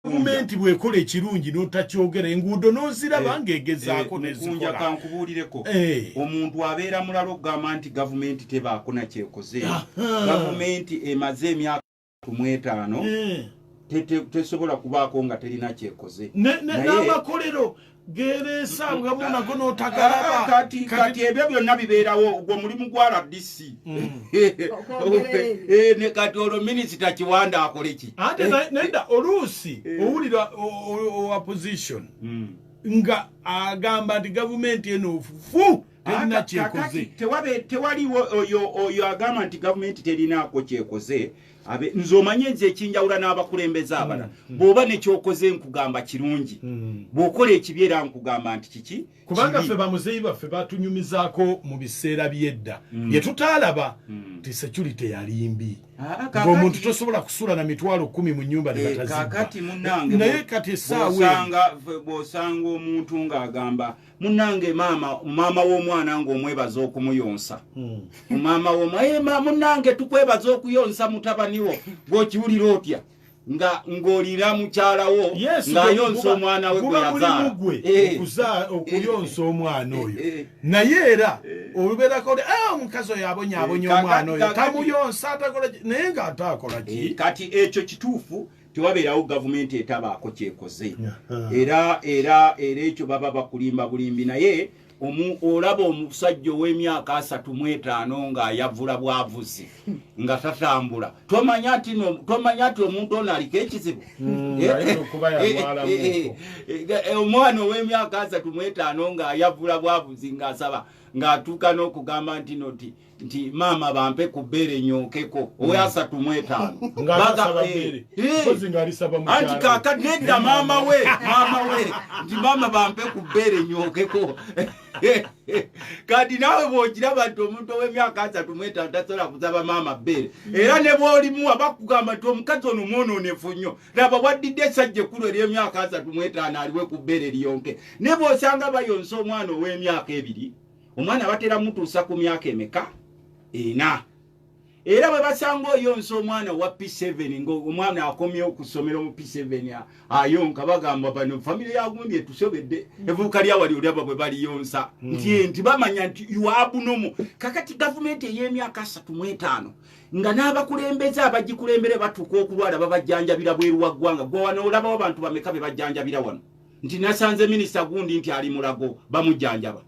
gavumenti bwekola ekirungi notakyogera enguudo noziraba eh, nga egezaako eh, nezikunja kankubuulireko eh. omuntu abeera mulala okugamba nti gavumenti tebaako nakyekoze gavumenti emaze emyaka tumwetaano tesobola kubaako nga terina kyekoze n'amakolero gebesangamu nago notagalaba ah, kati kati ebyo byonna bibeerawo ogwo omulimu gwa rdc mm. eh, kati olwo minisita kiwanda akoleki ate eh. neda oluusi eh. owulira opposition mm. nga agamba nti gavumenti eno ofufu terina kyekoze tewaliwo oyo agamba nti gavumenti terinaako kyekoze abe nze omanyi enze ekinjawula n'abakulembeze mm, abala mm. bw'oba nekyokoze nkugamba kirungi mm. bw'okola ekibi era nkugamba nti kiki kubanga ffe bamuzeeyi baffe batunyumizaako mu biseera by'edda bye tutaalaba nti security yalimbi ah, ah, ng'omuntu tosobola kusula na mitwalo kumi mu nyumba nebatazibba eh, naye kati esaawa bw'osanga omuntu ng'agamba munange maama maama w'omwana ng'omwebaza okumuyonsa hmm. maama w'omwana eh, munange tukwebaza okuyonsa mutabaniwo gwokiwulira otya nga ng'olira mukyala wo ng'ayonsa omwana we gweyazaalaokuyonsa eh. omwana oyo eh, naye era olubeerako li ah, omukazi oyo abonya abonya omwana oyo tamuyonsa naye ng'ate akolaki kati ekyo kituufu tewabeerawo gavumenti etabaako kyekoze era era era ekyo baba bakulimba bulimbi naye omu olaba omusajja ow'emyaka asatu mu etaano ng'ayavula bwavuzi nga tatambula tomanya nti tomanya nti omuntu ono aliko ekizibu hmm, eh, eh, eh, omwana ow'emyaka asatu mu etaano ng'ayavula bwavuzi ng'asaba ng'atuuka n'okugamba nti noti nti maama bampe ku bbeere nyookeko hmm. owasatu mu etaano eh, eh. anti kaka nedda maama we maama we nti maama bampe ku bbeere nyookeko kati naawe bwogiraba nti omuntu ow'emyaka asatu mu etaano tasobola kusaba maama bbeere hmm. era ne bwolimuwa bakugamba nti omukazi ono mwonoonefu nnyo laba waddidde esajja ekkulu ery'emyaka asatu mu etaano aliwe ku bbeere liyonke ne bwosanga bayonsa omwana ow'emyaka ebiri omwana batera mutuusa ku myaka emeka ena era bwe basanga oyonsa omwana wa p7 ngaomwana akomye okusomera mu p7 ayonka bagamba bano famiry yagundi etusobedde mm. evuuka lyawali olyaba bwe baliyonsa mm. nti eh, nti bamanya nti yuabunomu kakati gavumenti ey'emyaka asatu mu etaano nga n'abakulembeze abagikulembere batuuka okulwala babajjanjabira bweru wa ggwanga gwe wano olabawo abantu bameka be bajjanjabira wano nti nasanze minisita gundi nti ali mulago bamujjanjaba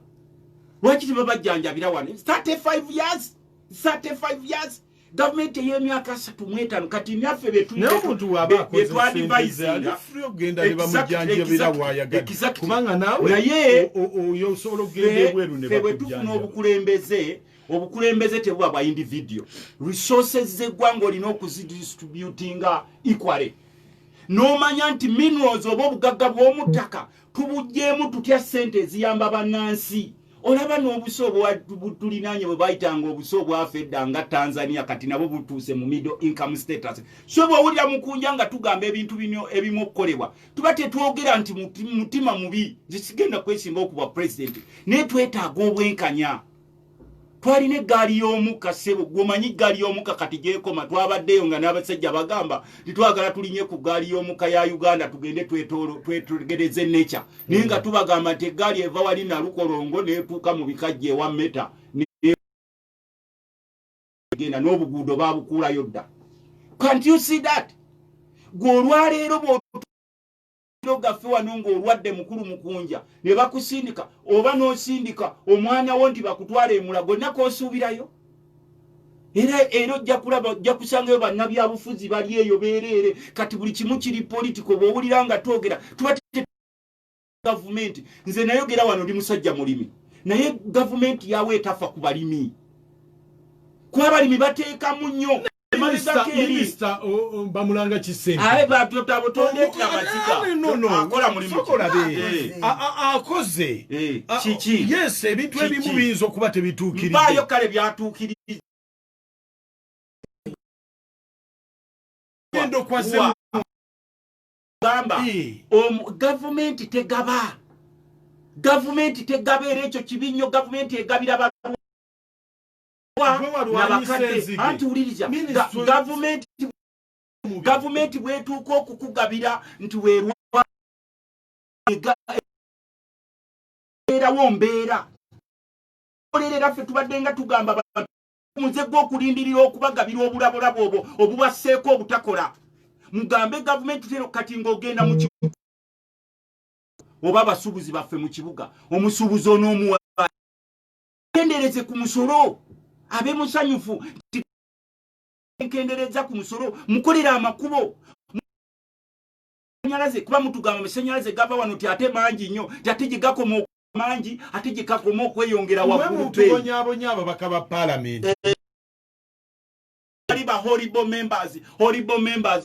lwaki tebabajjanjabira wano 35 years 35 years gavumenti ey'emyaka asatu mu etaano kati naffe betwandibaisingaebwe tufuna obukulembeze obukulembeze tebuba bwa individio resources z'eggwanga olina okuzidistributinga equale n'omanya nti minerals oba obugagga bw'omu ttaka tubuggyemu tutya ssente eziyamba bannansi olaba n'obusa obwatulinaanye bwe bayitanga obusa obwafa edda nga tanzania kati nabo butuuse mu middle income status so bwowulira mukunja nga tugamba ebintu bino ebimu okukolebwa tuba tetwogera nti mutima mubi zisigenda kwesimba okubwa pulezidenti naye twetaaga obwenkanya twalina eggaali y'omukka ssebo gwomanyi eggaali y'omukka kati gyekoma twabaddeyo nga n'abasajja bagamba titwagala tulinye ku ggaali y'omukka ya uganda tugende twetegereze nature naye nga tubagamba nti eggaali eva wali nalukolongo netuuka mu bikajja ewa meta genda n'obuguudo babukuulayo dda can't you see that gwe olwaleero mawuliro gaffe wano ng'olwadde mukulu mukunja ne bakusindika oba n'osindika omwana wo nti bakutwala emulago nako osuubirayo era era ojja kulaba ojja kusangayo bannabyabufuzi bali eyo beereere kati buli kimu kiri politiko bw'owulira nga twogera tuba gavumenti nze nayogera wano ndi musajja mulimi naye gavumenti yawo etafa ku balimi kuba abalimi bateekamu nnyo minisita bamulanga kisenteabatota butondetya mazigaakola mulimukolabe akoze kiki yes ebintu ebimu biyinza okuba tebituukiribayo kale byatuukiri gamba gavumenti tegaba gavumenti tegaba era ekyo kibi nnyo gavumenti egabira nabakadde anti wuliriza gavumenti gavumenti bwetuuka okukugabira nti werwaerawo mbeera olerera ffe tubadde nga tugamba muze gwe okulindirira okubagabira obulabolabo obwo obubasseeko obutakola mugambe gavumenti tero kati ngaogenda mu oba abasuubuzi baffe mu kibuga omusuubuzi onoomuwa kendereze ku musolo abe musanyufu nkendereza ku musolo mukolera amakubo sanyalaze kuba mutugamba masanyalaze gava wano ti ate mangi nnyo ti ate gye gakoma mangi ate gye gakoma okweyongera waggulubonyabonya ababaka ba palamenti eh, ali ba horrible members horrible members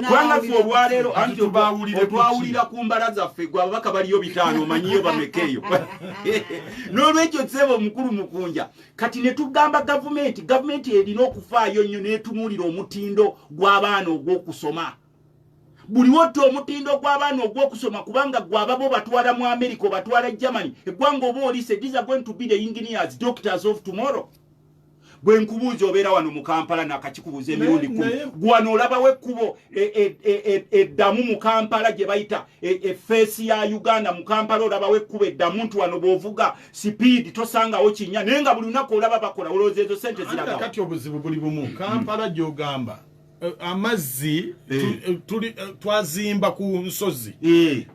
kubanga ffe olwaleero anti otwawulira ku mbala zaffe gwe ababaka baliyo bitaano omanyiyo bameka eyo n'olwekyo seeba omukulu mukunja kati ne tugamba gavumenti gavumenti erina okufaayo nnyo n'etunuulira omutindo gw'abaana ogw'okusoma buli wotta omutindo gw'abaana ogw'okusoma kubanga gwe ababa obatwala mu amerika obatwala germany eggwanga oba olise these are going to be the engineers doctors of tomorrow gwe nkubuuza obeera wano mu kampala nakakikubuuza emirundi kumi gwano olabawo ekkubo e, e, e, eddamu mu kampala gye bayita efeesi ya uganda mu kampala olabawo ekkubo eddamu nti wano bwovuga sipiidi tosangawo kinya naye nga buli lunaku olaba bakola olowooza ezo sente ziragakati obuzibu buli bumu kampala gyogamba eh, amazzi eh. Eh, tuli twazimba ku nsozi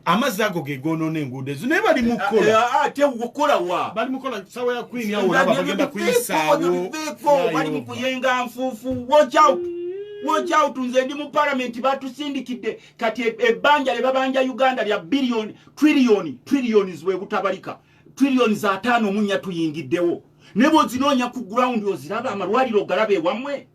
amazzi ago gegonona enguudo ezo naye bali mukolatekukolawa bali mukola sawa ya kwini awoabagenda kuyisaawobali mukuyenga nfuufu watch out watch out nze ndi mu palamenti batusindikidde kati e, ebbanja lye babanja uganda lya biliyoni triliyoni triliyoni zwebutabalika triliyoni za taano omunya tuyingiddewo ne bwozinoonya ku gurawundi oziraba amalwaliro ogalaba ewamwe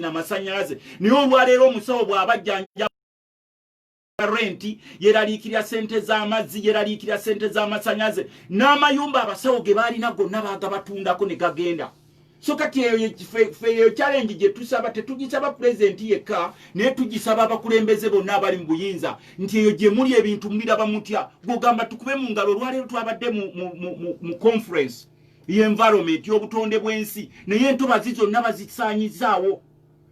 na masanyalaze naye olwaleero omusawo bw'abajjanja renti yeraliikirira sente z'amazzi yeraliikirira sente z'amasanyaze n'amayumba abasawo ge baalina gonna baagabatundako ne gagenda so kati eyo kyalengi gye tusaba tetugisaba pulezidenti yekka naye tugisaba abakulembeze bonna abali mu buyinza nti eyo gye muli ebintu muliraba mutya gwogamba tukube mu ngalo olwaleero twabadde mu conference y'environment y'obutonde bw'ensi naye entobazi zonna bazisaanyizaawo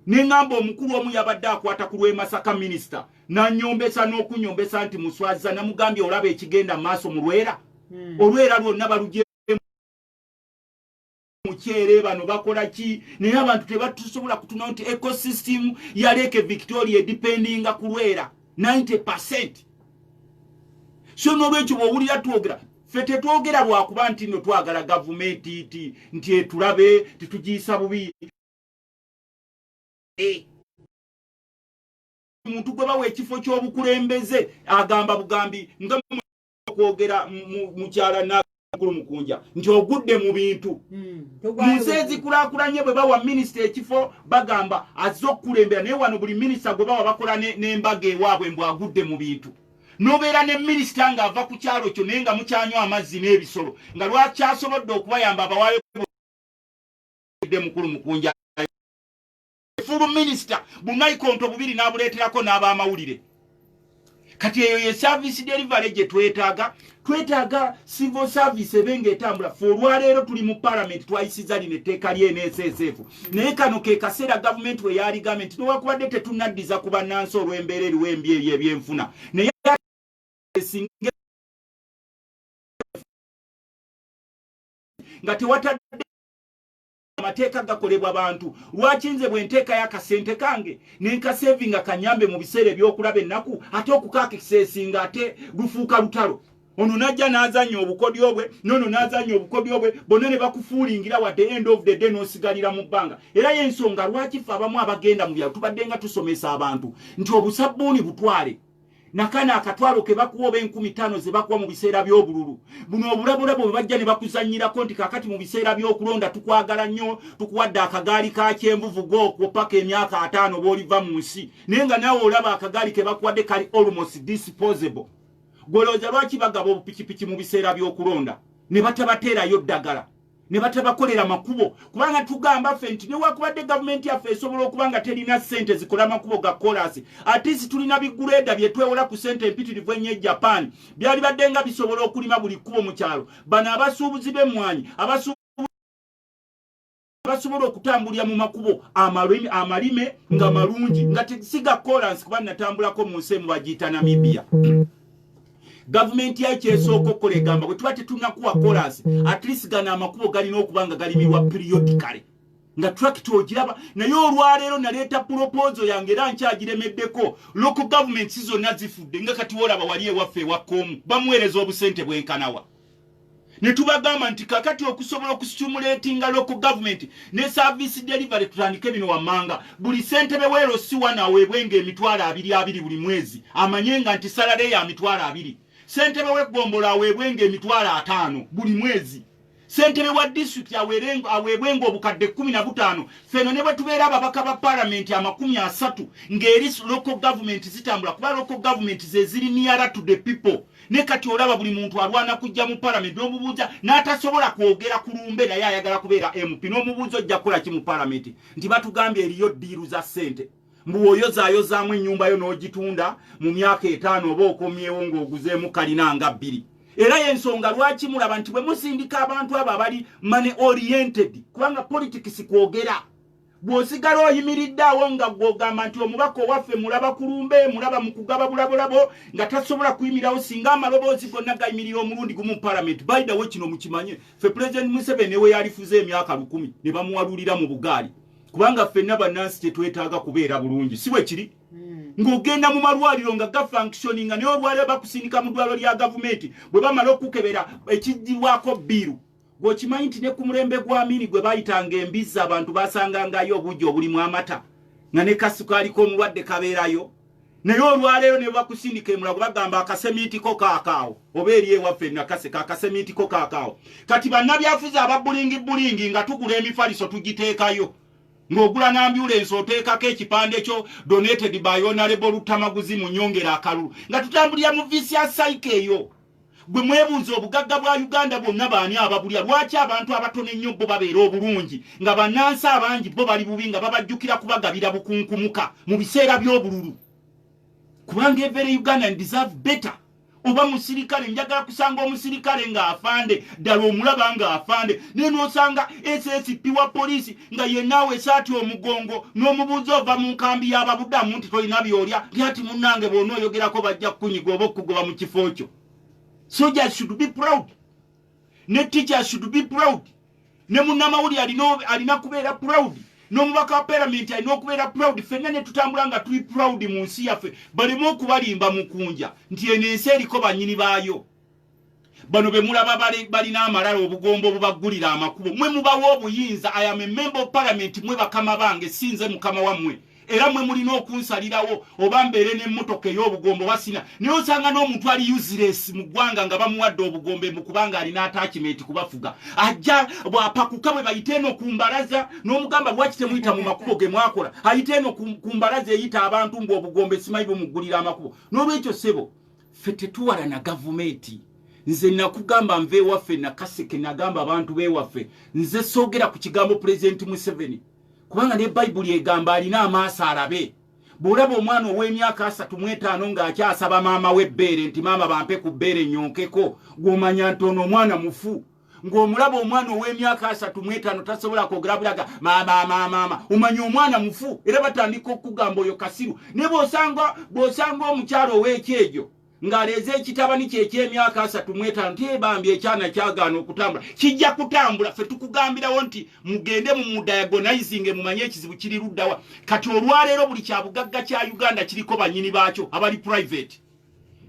ne ngamba omukulu omu yabadde akwata ku lw'emasaka minisita nanyombesa n'okunyombesa nti muswaziza namugambye olaba ekigenda mu maaso mu lwera hmm. olwera lwonna balugye mukyere bano bakola ki naye abantu tebatusobola kutuna nti ecosystem ya leke victoria edipendinga kulwera 90 percent so nolwekyo bwowulira twogera ffe tetwogera lwakuba nti no twagala gavumenti ti nti etulabe titugiyisa bubi eh. omuntu gwe bawa ekifo ky'obukulembeze agamba bugambi nga okwogera mukyala nakulu mukunja nti ogudde mu bintu hmm, mu nsi ezikulakulanye bwe bawa minisita ekifo bagamba azze okukulembera naye wano buli minisita gwe bawa bakola n'embaga ewaabwe mbw agudde mu bintu nobeera ne minisita nga ava ku kyalo kyo naye nga mukyanywa amazzi n'ebisolo nga lwakyasobodde okubayamba abawaayo de mukulu mukunja fulu minisita bunaikonto bubiri n'abuleeterako n'abamawulire kati eyo ye service delivery gye twetaaga twetaaga civil service ebe nga etambula fe olwaleero tuli mu palamenti twayisiza lino etteeka lyeneeseeseefu naye kano ke kaseera gavumenti we yaligambye nti newakubadde tetunaddiza ku bannansi olw'embeera eriwo embi eri ebyenfuna naye nga tewatadde amateeka gakolebwa bantu lwaki nze bwe nteeka yakasente kange nenkasevinga kanyambe mu biseera ebyokulaba ennaku ate okukakiseesinga ate lufuuka lutalo ono najja n'azanya obukodyo bwe nono n'azanya obukodyo bwe bonna ne bakufuulingira wadde end of the day n'osigalira mu bbanga era y'ensonga lwaki ffe abamu abagenda mu byalo tubadde nga tusomesa abantu nti obusabbuuni butwale nakana akatwalo ke bakuwa oba enkumi ttaano ze bakuwa mu biseera by'obululu buno obulabolabo bwe bajja ne bakuzannyirako nti kakati mu biseera by'okulonda tukwagala nnyo tukuwadde akagaali ka kyenvuvu gookwo paka emyaka ataano b'oliva mu nsi naye nga naawe olaba akagaali ke bakuwadde kali almost disposable gwelooza lwaki bagaba obupikipiki mu biseera by'okulonda ne batabateerayo ddagala ne batabakolera makubo kubanga tugamba ffe nti newakubadde gavumenti yaffe esobola okuba nga terina ssente zikola makubo ga kolasi atisi tulina bigureeda bye twewola ku ssente empitirivu ennyo e japan byalibadde nga bisobola okulima buli kkubo mu kyalo bano abasuubuzi b'emmwanyi abasu basobola okutambulira mu makubo amalime nga mm. malungi nga siga kolansi kuba natambulako mu nsi emu bagiyita namibia gavumenti yaki esooka okukola egamba bwe tuba tetunakuwa kolansi at least gano amakubo galina okuba nga galimirwa periodicale nga trakit ogiraba naye olwaleero naleeta pulopozo yange era nkyagiremeddeko local government zonna zifudde nga kati wolaba wali ewaffe ewakkomu bamuweereza obusente bwenkanawa ne tubagamba nti kakati okusobola okusitumuletinga local government ne service delivery tutandike bino wammanga buli sentebe weero siwa naweebwe nga emitwalo abiri abiri buli mwezi amanye nga nti salale ya mitwalo abiri sentebe weggombolo aweebwe nga emitwalo ataano buli mwezi sentebe wa disitulikiti aweebwe nga obukadde kkumi na butaano feno ne bwe tubeera ababaka ba palamenti amakumi asatu ng'eri local government zitambula kuba local government zeziri niyara to the people ne kati olaba buli muntu alwana kujja mu palamenti n'omubuuza n'atasobola kwogera ku lumbe naye ayagala kubeera mp n'omubuuza ojja kukola ki mu palamenti nti batugambye eriyo ddiiru za ssente mbuwoyozaayozaamu ennyumba yo n'ogitunda mu myaka etaano oba okomyewo ng'oguzeemu kalina nga bbiri era yensonga lwaki mulaba nti bwe musindika abantu abo abali mane oriented kubanga politics kwogera bw'osigala oyimiridde awo nga gw'ogamba nti omubaka owaffe mulaba ku lumbe mulaba mu kugaba bulabulabo nga tasobola kuyimirawo singa amaloboozi gonna gayimirira omulundi gumu mu palamenti baidawe kino mukimanye ffe pulezidenti museveni newe yalifuze emyaka lukumi ne bamuwalulira mu bugaali kubanga ffenna bannansi kyetwetaaga kubeera bulungi si bwe kiri ng'ogenda mu malwaliro nga gafunctioni nga naye olwaliro bakusindika mu ddwaliro lya gavumenti bwe bamala okukebera ekijjirwako bbiiru Gwokimanyi nti ne ku mulembe gwa Amini gwe baayitanga embizzi abantu baasangangayo obuugi obulimu amata nga ne kasukaali k'omulwadde kabeerayo naye olwaleero ne bakusindika emulago bagamba akasemiitiko kaakaawo oba eri ewaffe nakaseka akasemiitiko kaakaawo kati bannabyafuzi aba bulingi bulingi nga tugula emifaliso tugiteekayo ng'ogula n'ambyulensi oteekako ekipande kyo donated by onalebo lutamaguzi mu nyongera akalulu nga tutambulira mu visya saika eyo gwe mwebunza obugagga bwa uganda bwonna baani ababulya lwaki abantu abatono ennyo bo babeera obulungi nga banansi abangi bo bali bubi nga babajjukira kubagabira bukunkumuka mu biseera by'obululu kubanga every ugandan deserve better oba musirikale njagala kusanga omusirikale ng'afande ddala omulaba nga afande naye nosanga ssp wa poliisi nga yenaawe esaati omugongo n'omubuuzi ova mu nkambi y'ababudamu nti tolina byolya lyati munnange bona oyogerako bajja kukunyiga oba okukugoba mu kifo kyo soldiers should be proud ne teachers should be proud ne munnamawuli alina kubeera proud n'omubaka wa paramenti alina okubeera proud fenna ne tutambula nga tuli proud mu nsi yaffe baleme okubalimba mukunja nti eno ensi eriko banyini baayo bano bemulaba balina amalala obugombo obubaggulira amakubo mwe mubawa obuyinza ayame memba of palamenti mwe bakama bange sinze mukama wammwe era mwe mulina okunsalirawo oba mbeere n'emmotoka ey'obugombo basina naye osanga n'omuntu ali useles mu ggwanga nga bamuwadde obugombe mu kubanga alina atakimenti kubafuga ajja bwapakuka bwe bayite eno ku mbalaza n'omugamba lwaki temuyita mu makubo ge mwakola ayite eno ku mbalaza eyita abantu mbu obugombe simayi bumuggulira amakubo n'olwekyo ssebo ffe tetuwala na gavumenti nze nakugamba nva ewaffe nakaseke nagamba abantu bewaffe nze soogera ku kigambo pulezidenti museveni kubanga ne bayibuli egamba alina amaaso alabe bwolaba omwana ow'emyaka asatu mu etaano ng'akyasaba maama w'ebbeere nti maama bampe ku bbeere nyonkeko gw'omanya nti ono omwana mufu ng'omulaba omwana ow'emyaka asatu mu etaano tasobola kwogera bulaga maamaamaamaama omanya omwana mufu era batandika okukugamba oyo kasiru naye bwosanga bwosanga omukyalo ow'ekyejo ng'aleeze ekitabani kye eky'emyaka asatu mu etaano ti bambi ekyana kyagaana okutambula kijja kutambula fe tukugambirawo nti mugende mu mudiagonizinge mumanye ekizibu kiri luddawa kati olwaleero buli kyabugagga kya uganda kiriko bannyini baakyo abali private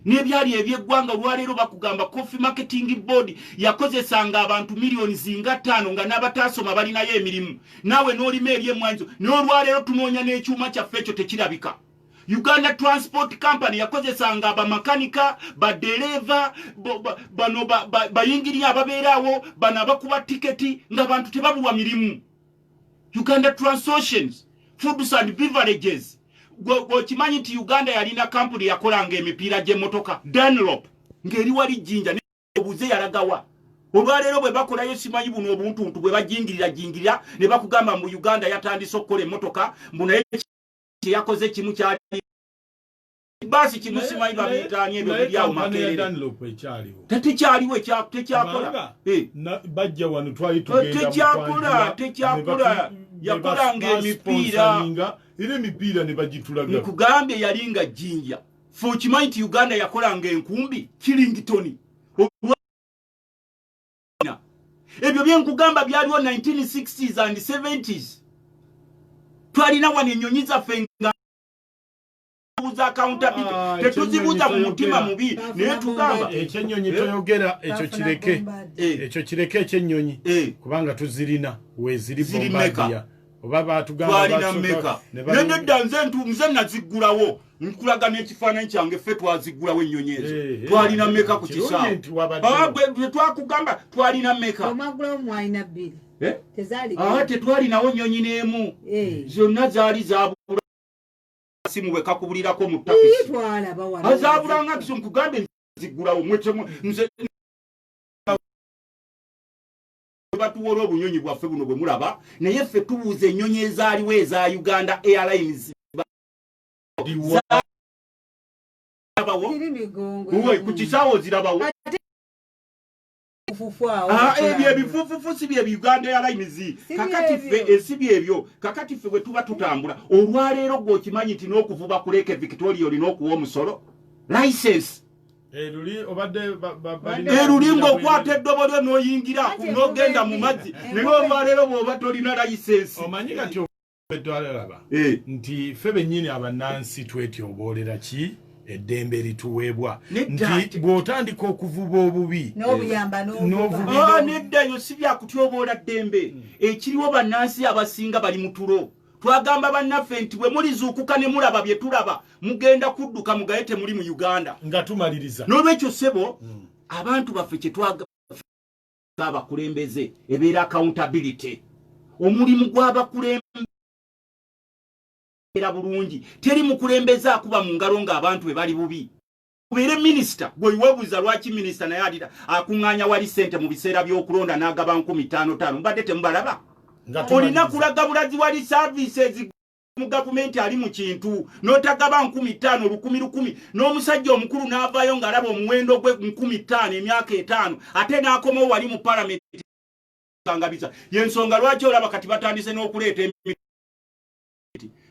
nebyali ebyeggwanga olwaleero bakugamba coffee marketing board yakozesanga abantu miliyoni zinga ttaano nga n'abataasoma balinayo emirimu naawe n'olima ebyemwanyizo n'olwaleero tunoonya n'ekyuma kyaffe ekyo tekirabika uganda transport company yakozesanga bamakanika badereeva bano bayingiriya ababeeraawo bano abakuba tiketi ng'abantu tebabulwa mirimu uganda transotions foods and beverages gweokimanyi nti uganda yalina kampuni yakolanga emipiira gyemotoka danlop ngeri wali jinja obuze yalagawa olwaleero bwe bakolayo simanyi buno obuntuntu bwe bajingirira jingirira ne bakugamba mu uganda yatandise okukola emotoka mbunaye kyeyakoze kimu kyali basi kimu simanyi babiyita ani ebyo biri awo makerere tetukyaliwo tekyakola eh. bajja wano twali eh, tugenda tekyakola tekyakola yakolanga emipiira era emipiira ne bagitulaga nkugambye yali nga jinja fe okimanyi nti uganda yakolanga enkumbi killingtoni ebyo byenkugamba byaliwo 1960s and 70s twalina wano enyonyi zaffe nga buza accountability ah, tetuzibuza mu mutima mubi naye tugamba ekyenyonyi eh? toyogera ekyo kireke eh. ekyo kireke ekyenyonyi eh. kubanga tuzirina weziri bombadia oba batugambaalina meka naye nedda nze ntu nze naziggulawo nkulaga n'ekifaananyi kyange ffe twaziggulawo ennyonyi ezo eh, eh, twalina eh, meka ku kisaatetwakugamba twalina meka tetwalinawo nnyonyi n'emu zonna zaali zabula simu bwe kakubulirako mu takisi azaabulanga nti nkugambe nzigulawo mwetemu nze batuwola obunyonyi bwaffe buno bwe mulaba naye ffe tubuuza ennyonyi ezaaliwo eza uganda airlines ku kisaawo zirabawo ebyo ebifufufu si bye uganda airlines kakati ffe esi eh, byebyo kakati ffe bwe tuba tutambula olwaleero gwe okimanyi nti n'okuvuba ku leeke victoria olina okuwa omusolo license eruli eh, ng'okwata eddobo lyo n'oyingira n'ogenda mu mazzi naye olwaleero bw'oba tolina license twalaba eh. nti ffe bennyini abannansi twetyoboolera ki eddembe lituweebwa nti bw'otandika okuvuba obubi eh, ah, neddayo si byakutyoboola ddembe hmm. ekiriwo bannansi abasinga bali mu tulo twagamba bannaffe nti bwe mulizuukuka ne mulaba bye tulaba mugenda kudduka mugaye temuli mu uganda nga tumaliriza n'olwekyo ssebo hmm. abantu baffe kyetwaga abakulembeze ebeera accountability omulimu gw'abakulembera bulungi teri mukulembeze akuba mu ngalo ng'abantu be bali bubi kubeere minisita gwewebuuza lwaki minisita naye alira akuŋŋaanya wali sente mu biseera by'okulonda n'agaba nkumi ttaano ttaano mubadde temubalaba olina kulaga bulazi wali services mu gavumenti ali mu kintu n'otagaba nkumi ttaano lukumi lukumi n'omusajja omukulu n'avaayo ng'alaba omuwendo gwe nkumi ttaano emyaka etaano ate n'akomawo wali mu palamenti kangabiza yensonga lwaki olaba kati batandise n'okuleeta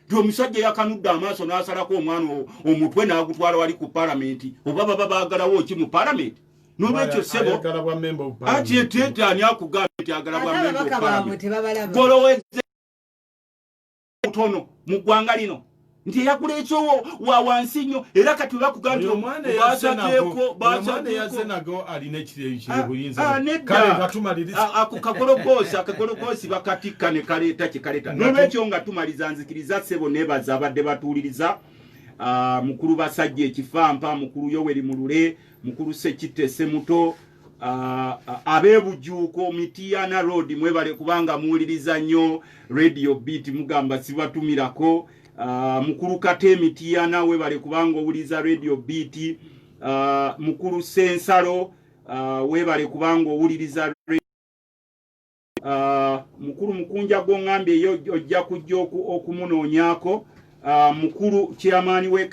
nti omusajja yakanudde amaaso n'asalako omwana omutwe n'agutwala wali ku palamenti oba baba baagalawo ki mu palamenti nolwekyo sebo ati etyetani akugambye nti agala bwa memba obupalamenti obutono mu ggwanga lino nti eyagula ekyowo wa wansi nnyo era kati bakugambyeakakologosi akakologosi bakatikka ne kaleeta kye kaleeta nolwekyo nga tumaliza nzikiriza sebo nebaza abadde batuwuliriza ah, mukulu basajja ekifampa mukulu yoweri mulule mukulu sekitte semuto Ah, ah, abebujuuko mitiana road mwebale kubanga muwuliriza nnyo radio beat mugamba sibatumirako ah, mukulu kate mitiana webale kubanga owuliriza radio beat mukulu sensalo webale kubanga owuliriza mukulu mukunja gwongambye yo ojja kujja okumunoonyako mukulu chairman we